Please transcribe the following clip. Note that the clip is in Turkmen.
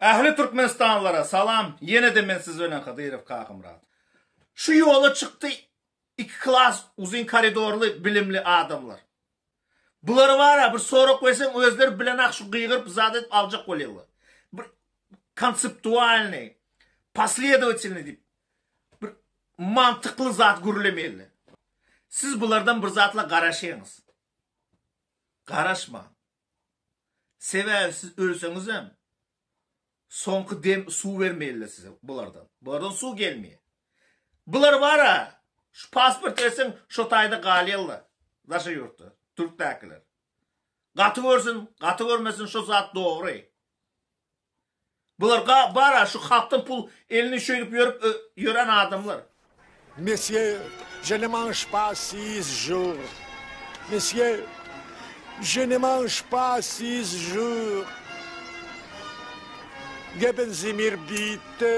Ähli Türkmenistanlylara salam ýenede men siz bilen Hydyrow Kakamyrat. Şu ýola çykdy iki klas uzyn koridorly bilimli adamlar. Bulara bara bir sorag berseň özleri bilenak şu gygyryp zat edip aljak bolýalar. Bir konseptualny, posledowatilny diýip bir mantykly zat gürlemeýle. Siz bulardan bir zatla garaşyňyz. Garaşmaň. Sebäbi siz ölseňizem, soňky dem suw bermeýärler size bulardan. Bulardan suw gelmeýär. Bular bar-a, şu pasport berseň, şo taýda galýarlar. Daşary ýurtda, türkdäkiler. Gaty görsün, gaty görmesin, şo zat dogry. Bular ga bara şu halkdan pul elini şeýdip ýörüp ýören adamlar. Mesye je ne manş pa siz jur Mesye je ne manş pa siz jur Geben zimir bitti.